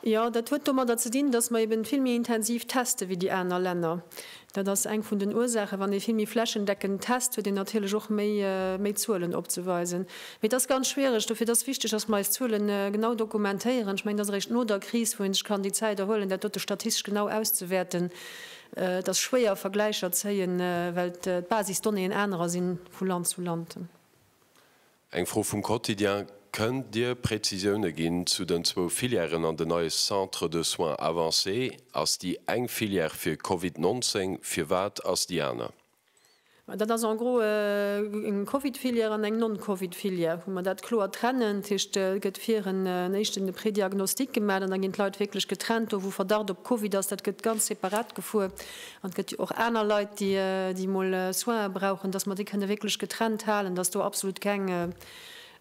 Jo, dat huet domadder ze dinn, dass mer eben vill méi intensiv testen wéi déi aner Länner. Dat ass eng vun den Ursaachen. Wann ee vill méi flächendeckend test, huet een natierlech och méi, méi Zuelen opzeweisen. Mee et ass ganz schwiereg. Dofir, et ass wichtig, dass mer eis Zuelen genau dokumentéieren. Ech mengen, et ass eréischt no der Kris, wou ee sech kann déi Zäit erhuelen, dat dote statistesch genau auszewäerten. Et ass schwéier Vergläicher zéien, well d'Basisdonnéeën anerer si vu Land zu Land. Eng Fro vum Quotidien, Kënnt Dir Präzisioune ginn zu den zwou Filièren an den neie Centres de soins avancés? Ass déi eng Filière fir Covid 19? Firwat ass déi aner? Ma dat ass en gros eng Covid-Filière an eng Non-Covid-Filière, wou mer dat kloer trennen. Dat heescht, et gëtt vir en éischten de Prédiagnostic gemaach an da ginn d'Leit wierklech getrennt. Do wou Verdacht op Covid ass, dat gëtt ganz separat gefuer. An et gëtt jo och aner Leit, déi emol Soine brauchen, dass mer déi kënne wierklech getrennt halen, dass do absolut keng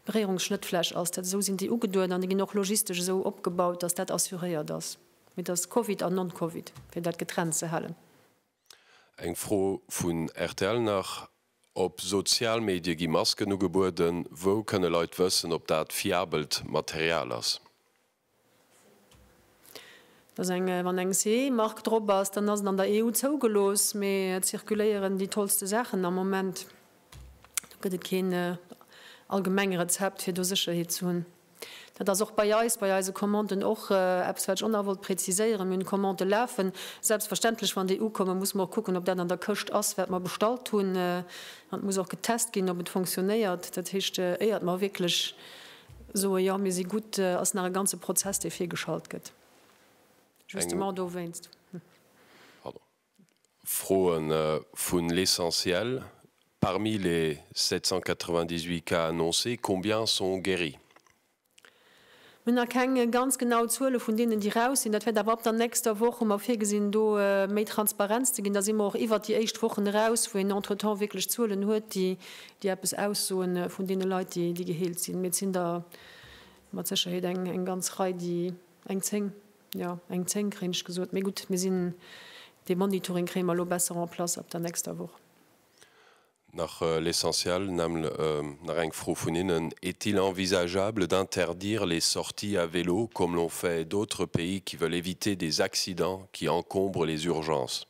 Beréierungsschnëttfläch ass. Dat esou sinn déi ugeduet an déi ginn och logistesch esou opgebaut, dass dat assuréiert ass. Mee dass Covid an Non-Covid, fir dat getrennt ze halen. Eng Fro vun rtl nach, Op Sozialmedie gi Masken ugebueden. Wou kënne Leit wëssen, ob dat fiabelt Material ass? Wann eng CE-Mark drop ass, dann ass et an der EU zougelooss, mee et zirkuléieren déi tollste Saachen am Moment. Do gëtt et keen allgemeng Rezept, fir do Sécherheet ze hunn. Dat ass och bei eis, bei eise Commanden och eppes, wat ech och nach wollt präziséieren. Mir hunn Commandë lafen. Selbstverständlech, wann déi ukommen, musse mer och kucken, ob dat an der Këscht ass, wat mer bestallt hunn. An et muss och getest ginn, ob et funktionéiert. Dat heescht, éiert mer wierklech Soe jo mir si gutt ass nach e ganze Prozess dee virgeschalt gëtt justement dowéinst. Froe vun L'Essentiel, Parmi les 798 cas annoncés, combien sont guéris? Mir hunn nach keng ganz genau Zuele vun deenen déi raus sinn. Dat wäert awer ab der nächster Woch, hu mer virgesinn do méi Transparenz ze ginn. Da si mer och iwwert déi éischt Wochen eraus, wou een entretemps wierklech Zuelen huet déi déi eppes aussoen vun deene Leit, déi geheelt sinn, mee et sinn der mat Sécherheet eng ganz Rei, déi eng zéng, jo, eng zéng kréien ech gesot. Mee gutt, mir sinn, dee Monitoring kréie mer elo besser en place ab der nächster Woch. Nach l'essentiel, näml nach eng Fro vun hinnen, Est-il envisageable d'interdire les sorties à vélo comme l'ont fait d'autres pays qui veulent éviter des accidents qui encombrent les urgences?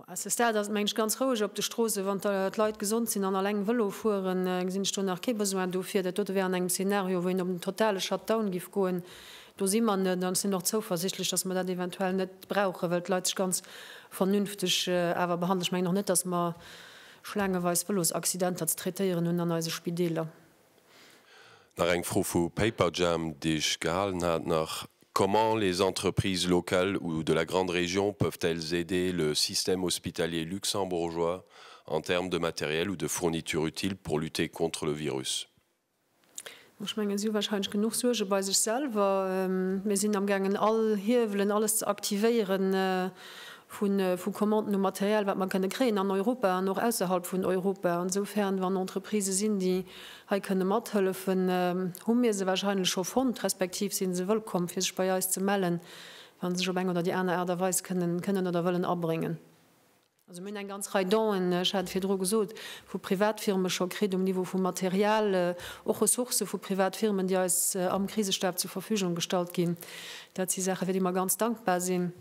A ce stade ass et mengen ech ganz roueg op de Stroossen. Wann d'Leit gesond sinn an alleng Vëlo fueren, gesinn ech do nach kee Besoin dofir. Dat dote wär an engem Szenario, wou een op en totale Shutdown giff goen. Do si mer net. An ech sinn och zouversichtlech, datt mer dat eventuell net brauchen, well d'Leit sech ganz vernünfteg awer behandelen. Ech mengen och net, datt mer schlaangeweis Vëlosaccidenter ze traitéieren hunn an eise Spideeler. Nach eng Fro vu Paperjam, déi ech gehalen hat nach, Comment les entreprises locales ou de la grande région peuvent-elles aider le système hospitalier luxembourgeois en termes de matériel ou de fournitures utiles pour lutter contre le virus? Ech mengen, si hu wahrscheinlech genuch Suerge bei sech selwer. Mir sinn amgaangen all Hiewelen, alles ze aktivéieren, vu Commanden u Material, wat mer kënne kréien an Europa an och ausserhalb vun Europa. Esoufer'n, wann Entreprisë sinn, déi hei kënne mathëllefen, hu mir se wahrscheinlech scho fonnt, respektiv si se wëllkomm, fir sech bei eis ze mellen, wa se sech op eng oder déi aner Aart a Weis kënnen oder wëllen abréngen. Also mir hunn eng ganz Rei Donen, ech hat et virdru gesot, vu Privatfirme scho kritt um Niveau vu Material, och Ressourcë vu Privatfirmen, déi eis am Krisestab zur Verfügung gestallt ginn. Dat si Saache, fir déi mer ganz dankbar sinn.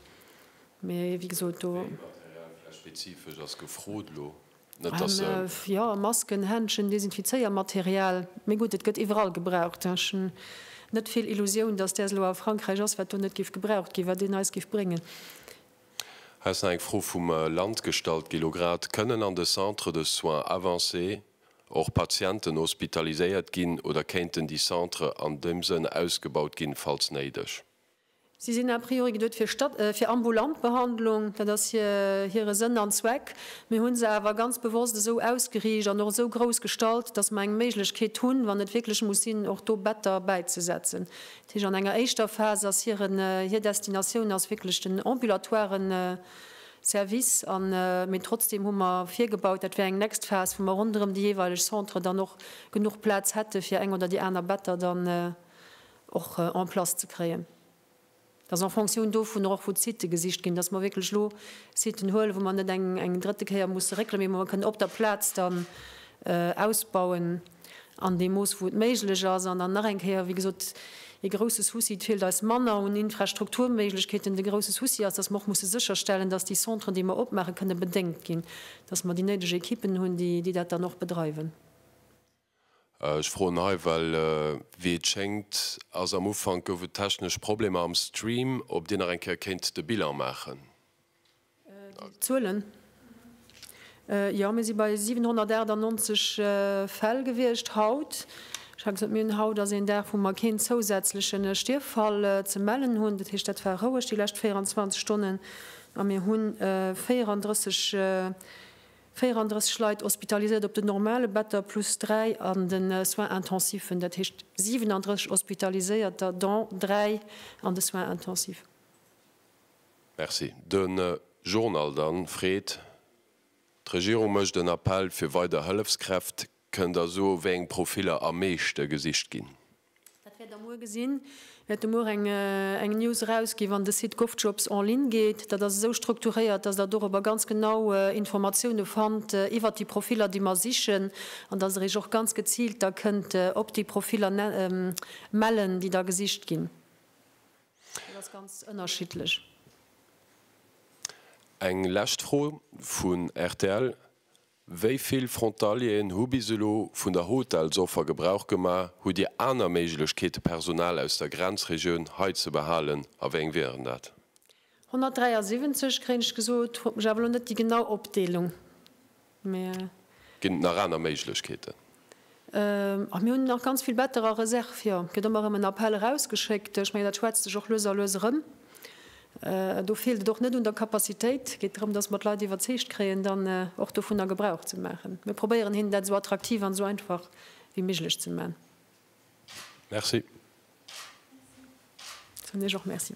Mee wéi gesot, do. Wéi Material vläicht spezifesch ass gefrot elo? Net, dass se. Jo, Masken, Händschen, Desinfizéiermaterial. Mee gutt, et gëtt iwwerall gebraucht. Ech hunn net vill Illusioun, dass däers elo a Frankräich ass, wat do net géif gebraucht ginn, wat een eis géif bréngen. Hei ass nach eng Fro vum Land gestallt ginn elo grad. Kënnen an de Centres de soins avancés och Patienten hospitaliséiert ginn oder kéinten déi Centre an deem Sënn ausgebaut ginn, falls néideg? Si sinn a priori geduet fir ambulant Behandlung, dat ass hire Sënn an Zweck. Mir hu se awer ganz bewosst esou ausgeriicht an och esou grouss gestalt, dass mer eng Méiglechkeet hunn, wann et wierklech muss sinn, och do Better bäizesetzen. Dat heescht, an enger éischter Phas ass hir Destinatioun ass wierklech den ambulatoire Service an, mee trotzdeem hu mer virgebaut, dat wär eng next Phas, wou mer ronderëm déi jeeweileg Centre dann och genuch Plaz hätte fir eng oder déi aner Better dann och en place ze kréien, dass en fonction dovunner och wou d'Sitë gesicht ginn, dass mer wierklech elo Sitten huelen, wou mer net eng drëtte Kéier musse réckelen, mee wou mer kënnen op der Plaz dann ausbauen an deem Mooss wou et méiglech ass. An dann nach eng Kéier, wéi gesot, ee grouse Souci, et feelt eis manner un Infrastrukturméiglechkeeten. De grouse Souci ass, dass mer och musse sécherstellen, dass déi Centren, déi mer opmaachen, kënne bedéngt ginn, dass mer déi néideg Ekippen hunn, déi dat dann och bedreiwen. Ech froen hei, well wéi et schéngt ass am Ufank gouf et technesch Problemer am Stream, ob Dir nach eng Kéier kéint de Bilan maachen. Déi Zuelen? Jo, mir si bei 798 Fäll gewiescht haut. Ech hat gesot, mir hunn haut ass een Dag, wou mer keen zousätzleche Stierffall ze mellen hunn. Dat heescht, dat war roueg déi lescht 24 Stonnen. A mir hu 34. 34 Leit hospitaliséiert op den normale Better plus 3 an de Soins intensiven, dat heescht 37 Hospitaliséierter, dont 3 an de Soins intensiven. Merci. De Journal dann freet, D'Regierung mécht en Appell fir weider Hëllefskräft. Kënnt Der soe wéi eng Profiller am meeschte gesicht ginn? Dat wäert Der muer gesinn. Mir hätte muer eng News erausgi wann de Site GovJobs en ligne geet. Dat ass esou strukturéiert, datt Der dorobber ganz genau Informatioune fannt iwwert déi Profiller déi mer sichen an datt Der Iech och ganz geziilt da kënnt op déi Profiller mellen déi da gesicht ginn. Dat ass ganz ënnerschiddlech. Eng lescht Fro vun rtl, Wéi vill Frontalieren hu bis elo vun der Hotelsoffer Gebrauch gemaach? Hutt Dir aner Méiglechkeete Personal aus der Grenzregioun hei ze behalen a wéi eng wieren dat? 173, kréien ech gesot, huet mech awer elo net déi genau Opdeelung, mee. Ginn et nach aner Méiglechkeeten? A mir hunn nach ganz vill Better a Reserve, jo. Et gëtt ëmmer erëm en Appell erausgeschéckt. Ech mengen, dat schwätzt sech och lues a lues erëm. Do feelt et och net un der Capacitéit. Et geet drëm, dass mer d'Leit iwwerzeegt kréien, dann och dovunner Gebrauch ze maachen. Mir probéieren hinnen dat esou attraktiv an esou einfach wéi méiglech ze man. Merci. Soen ech och Merci.